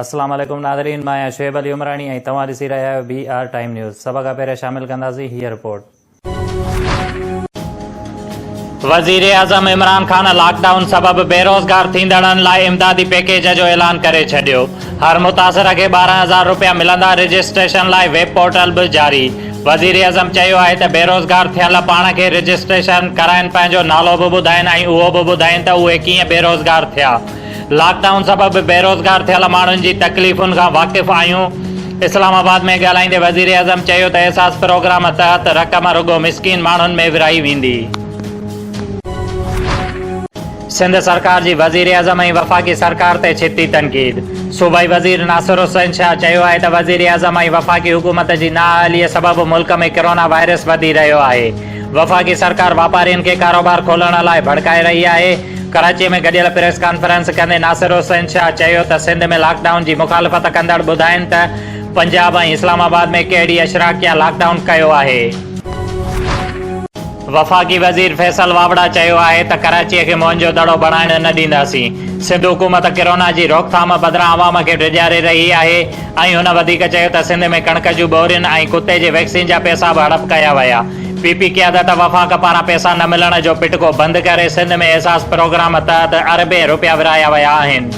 السلام عليڪم ناظرين مان آهيان شعيب علي عمراڻي ۽ توهان ڏسي رهيا آهيو بي آر ٽائيم نيوز سڀ کان پهريان شامل ڪنداسين هيء رپورٽ. وزيراعظم عمران خان لاڪ ڊائون سبب بيروزگار ٿيندڙن لاء امدادي پيڪيج جو اعلان ڪري ڇڏيو، هر متاثر کي ٻارهن هزار روپيا ملندا، رجسٽريشن لاء ويب پورٽل به جاري، وزيراعظم چيو آهي ته بيروزگار ٿيل پاڻ کي رجسٽريشن ڪرائين پنهنجو نالو به ٻڌائين ۽ اهو به ٻڌائين ته اهي ڪيئن بيروزگار ٿيا. لاڪ ڊائون سبب بيروزگار ٿيل ماڻهن جي تڪليفن کان واقف آهيون، اسلام آباد ۾ ڳالهائيندي وزيراعظم چيو ته احساس پروگرام تحت رقم رڳو مسڪين ماڻهن ۾ ورهائي ويندي. سنڌ سرڪار جي وزيراعظم ۽ وفاقي سرڪار تي ڇتي تنقيد، صوبائي وزير ناصر حسين شاهه چيو آهي ته وزيراعظم ۽ وفاقي حڪومت جي نااهليء سبب ملڪ ۾ ڪرونا وائرس وڌي رهيو آهي، وفاقي سرڪار واپارين کي ڪاروبار کولڻ لاء ڀڙڪائي رهي آهي، ڪراچي ۾ گڏيل پريس ڪانفرنس ڪندي ناصر حسين شاهه چيو ته سنڌ ۾ لاڪ ڊائون جي مخالفت ڪندڙ ٻڌائين ته پنجاب ۽ اسلام آباد ۾ ڪي ڊي اشراقيا لاڪ ڊائون ڪيو آهي. وفاقي وزير فيصل واوڙا چيو آهي ته ڪراچي کي موهن جو دڙو بڻائڻ نه ڏينداسين، سنڌ حڪومت ڪرونا جي روڪٿام بدران عوام کي ڊيڄاري رهي آهي، ۽ هن وڌيڪ چيو ته سنڌ ۾ ڪڻڪ جون ٻورين ۽ ڪتي جي ويڪسين جا پيسا به هڙپ ڪيا ويا، پي پي قيادت وفاق پاران پيسا نه ملڻ جو پٽڪو بند ڪري سنڌ ۾ احساس پروگرام تحت اربين رپيا ورهايا ويا آهن.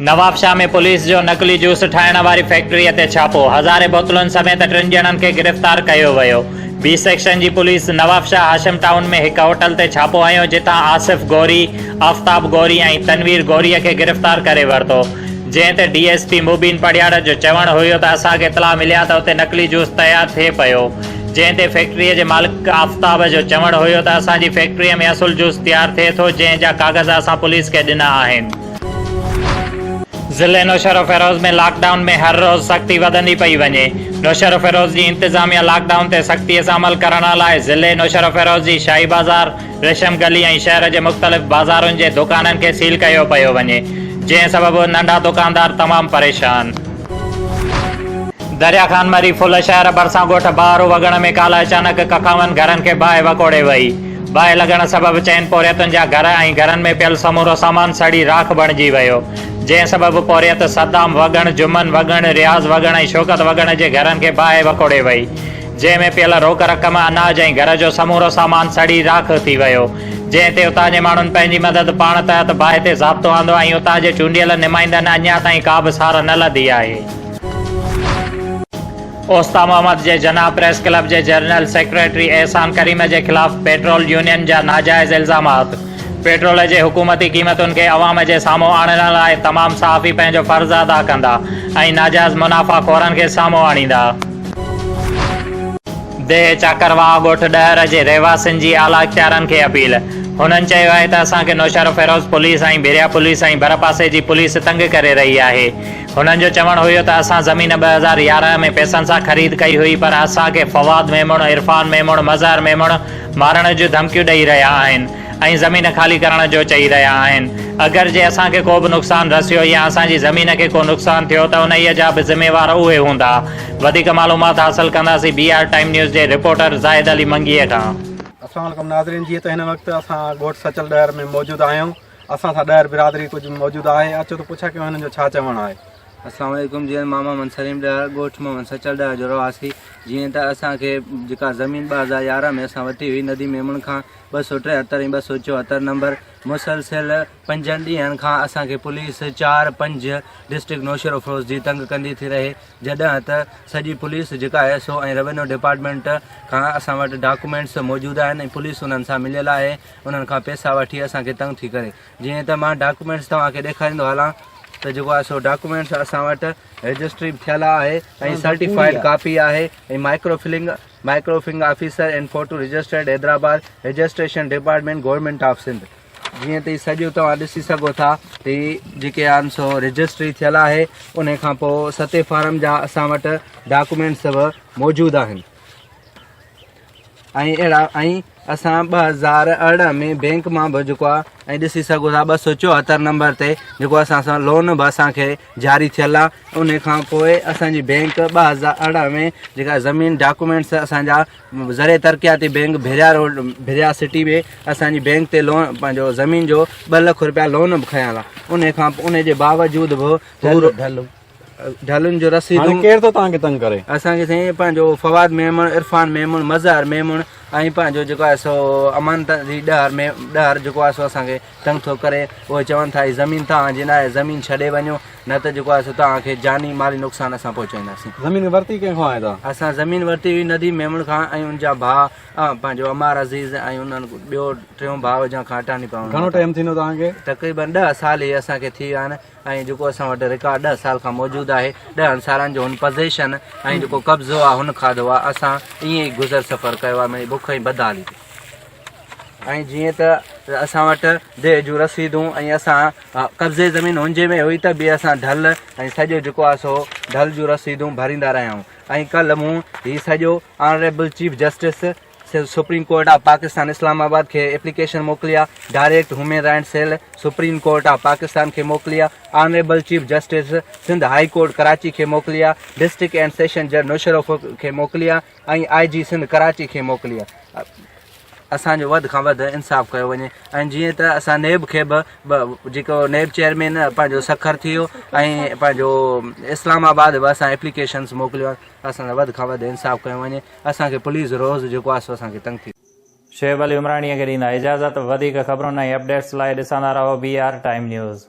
نوابشاهه ۾ پوليس جو نقلي جوس ٺاهڻ واري فيڪٽري تي ڇاپو، هزارين بوتلن سميت ٽن ڄڻن کي گرفتار ڪيو ويو، بي سيڪشن جي پوليس نوابشاهه هاشم ٽائون ۾ هڪ هوٽل تي ڇاپو هنيو جتان آصف غوري، آفتاب غوري ۽ تنوير غوري کي گرفتار ڪري ورتو، جنهن تي D S P Mubeen Parhiyar جو چوڻ هيو ته اسان کي اطلاع ملي آهي ته اتي نقلي جوس تيار ٿئي پيو جنهن تي فيڪٽري جي مالڪ آفتاب جو چوڻ هيو ته اسان جي فيڪٽري ۾ اصل جوس تيار ٿئي ٿو جنهن جا ڪاغذ اسان پوليس کي ڏنا آهن. ضلعي نوشهروفيروز ۾ لاڪ ڊائون ۾ هر روز سختي وڌندي پئي وڃي، نوشهروفيروز جي انتظاميا لاڪ ڊائون تي سختي سان عمل ڪرڻ لاء ضلعي نوشهروفيروز جي شاهي بازار، ريشم گلي ۽ شهر جي مختلف بازارن جي دڪانن کي سيل ڪيو پيو وڃي، جنهن سبب ننڍا دڪاندار تمام پريشان. دريا خان مري ڦل شهر ڀرسان ڳوٺ بهارو وڳڻ ۾ ڪالهه اچانڪ ڪکاون گهرن کي باهه وڪوڙي وئي. باهه لڳڻ سبب چئن پورهيتن جا گهر ۽ گهرن ۾ پيل سمورو سامان سڙي راک بڻجي ويو، جنهن سبب پورهيت صدام وڳڻ، جمن وڳڻ، رياض وڳڻ ۽ شوڪت وڳڻ جي گهرن کي باهه وڪوڙي وئي. جنهن ۾ پيل روڪ رقم، اناج ۽ گهر جو سمورو سامان سڙي راک ٿي ويو، جنهن تي اتان جي ماڻهن پنهنجي مدد پاڻ تحت باهه تي ضابطو آندو ۽ اتان جي چونڊيل نمائندن اڃا تائين ڪا به سار نه لڌي آهي. اوستا محمد جي جناح پريس ڪلب جي جنرل سيڪريٽري احسان ڪريم جي خلاف پيٽرول يونين جا ناجائز الزامات، پيٽرول جي حڪومتي قيمتن کي عوام جي سامهون آڻڻ لاء تمام صحافي پنهنجو فرض ادا ڪندا ۽ ناجائز منافع خورن کي سامهون آڻيندا. ديهه چاڪرواهه ڳوٺ ڏهر جي رهواسين جي اعليٰ اختيارن کي اپيل، هنن چيو آهي ته اسان کي نوشهروفيروز پوليس ۽ ڀريا پوليس ۽ ڀرپاسي جي پوليس تنگ ڪري رهي آهي، هنن جو چوڻ هيو ته اسان زمين ٻه هزار يارهن ۾ پئسن سان خريد ڪئي هئي پر اسان کي فواد ميمڻ، عرفان ميمڻ، مظهر ميمڻ مارڻ جون ڌمڪيون ڏئي رهيا آهن. ۽ زمين خالي ڪرڻ جو چئي رهيا آهن، اگر جي اسان کي ڪوبه نقصان رسيو يا اسان جي زمين کي ڪو نقصان ٿيو ته انهيء جا به ذميوار اهي هوندا. وڌيڪ معلومات حاصل ڪنداسين بي آر ٽائيم نيوز جي رپورٽر زاهد علي منگيء کان. السلام عليڪم ناظرين جيئن ته هن وقت اسان ڳوٺ سچل ڏهر ۾ موجود آهيون اسان سان ڏهر برادري ڪجهه موجود آهي اچو ته پڇا ڪيون هنن جو ڇا چوڻ آهي. السلام عليڪم جي ماما من سليم ڏهر ڳوٺ محمد سچل ڏهر جو رهواسي جيئن ته اسان کي جيڪا زمين ٻه هزار يارهن ۾ اسان ورتي هئي ندي ميمڻ کان ٻه سؤ ٽيهتر ۽ ٻه سؤ چوهتر نمبر مسلسل پنجن ڏينهن کان اسان کي پوليس چار پنج ڊسٽرڪٽ نوشهروفروز جي تنگ ڪندي ٿي رهي جڏهن ته سڄي پوليس جيڪا ايس او ۽ روينيو ڊپارٽمينٽ کان اسان وٽ ڊاڪومينٽس موجود آهن ۽ پوليس انهن سان مليل آهي انهن کان پيسا وٺي اسان کي تنگ ٿي ڪري جيئن ته مان ڊاڪومينٽس توهان کي ڏيکاريندو هلان ته جيڪو آهي سو ڊاڪومينٽس اسان وٽ رجسٽري به ٿيل آهي ۽ سرٽيفائيڊ ڪاپي آهي ۽ microfilming microfilming officer and photo registered Hyderabad registration department government of Sindh جيئن تي سڄو توهان ڏسي سگهو ٿا تي جيڪي آن سو رجسٽري ٿيل آهي ان کان پو ستي فارم جا اسان وٽ ڊاڪومينٽس به موجود آهن ۽ اهڙا ۽ اسان ٻه هزار ارڙهن ۾ بينڪ مان به جيڪو آ ۽ ڏسي سگهو ٿا ٻه سؤ چوهتر نمبر تي جيڪو اسان سان لون به اسان کي جاري ٿيل آ ان کان پوء اسان جي بينڪ ٻه هزار ارڙهن ۾ جيڪا زمين ڊاڪومينٽس اسان جا ذريعي ترقياتي بينڪ ڀريا روڊ ڀريا سٽي ۾ اسان جي بينڪ تي لون پنهنجو زمين جو ٻه لک روپيا لون به کنيا ٿا ان کان ان جي باوجود به ڍلن جو رسيدون. هاڻي ڪير ٿو توهان کي تنگ ڪري. اسان کي سائين پنهنجو فواد ميمڻ، عرفان ميمڻ، مظهر ميمڻ ۽ پنهنجو جيڪو آهي سو امان تنظيم ڏهر ميم ڏهر جيڪو آهي سو اسان کي تنگ ٿو ڪري. اهي چون ٿا هي زمين توهان جي ناهي زمين ڇڏي وڃو نه ته جيڪو آهي سو توهان کي جاني مالي نقصان اسان پهچائينداسين. زمين ورتي ڪنهن کان آهي توهان؟ اسان زمين ورتي هئي نديم ميمڻ کان ۽ ان جا ڀاء پنهنجو عمار عزيز ۽ انهن ٻيو ٽيون ڀاء جنهن کان اٽاني پوڻ. گهڻو ٽائيم ٿيندو توهان کي؟ تقريبن ڏهه سال هي اسان کي ٿي ويا آهن. ۽ جيڪو اسان وٽ رڪارڊ ڏهه سال کان موجود آهي ڏهه هن سالن جو هن پزيشن ۽ جيڪو قبضو آهي هن کاڌو آهي اسان ائين ئي گذر سفر ڪيو آهي منهنجي بک ۽ بدحالي تي ۽ جيئن ته اسان وٽ ديهه جون رسيدون ۽ اسان قبضي زمين هنجي ۾ هئي ته به اسان ڍل ۽ سڄو جيڪو آهي سو ڍل جون رسيدون ڀريندا رهيا آهيون ۽ ڪل مون هي سڄو honourable chief justice supreme court of Pakistan Islamabad کي ايپليڪيشن موڪلي آ، direct human rights cell supreme court of Pakistan کي موڪلي آ، honourable chief justice Sindh high court Karachi کي موڪلي آ، ڊسٽرڪٽ اينڊ سيشن جج نوشهروف کي موڪلي آ ۽ آء جي سنڌ ڪراچي کي موڪلي آ. اسان جو وڌ کان وڌ انصاف ڪيو وڃي ۽ جيئن ته اسان نيب کي به جيڪو نيب چيئرمين پنهنجو سکر ٿي ويو ۽ پنهنجو اسلام آباد به اسان ايپليڪيشنس موڪليون اسان سان وڌ کان وڌ انصاف ڪيو وڃي اسان کي پليز روز جيڪو آهي سو اسان کي تنگ ٿي. شعيب علي عمراڻيء کي ڏيندا اجازت وڌيڪ خبرن ۽ اپڊيٽس لاء ڏسندا رهو بي آر ٽائيم نيوز.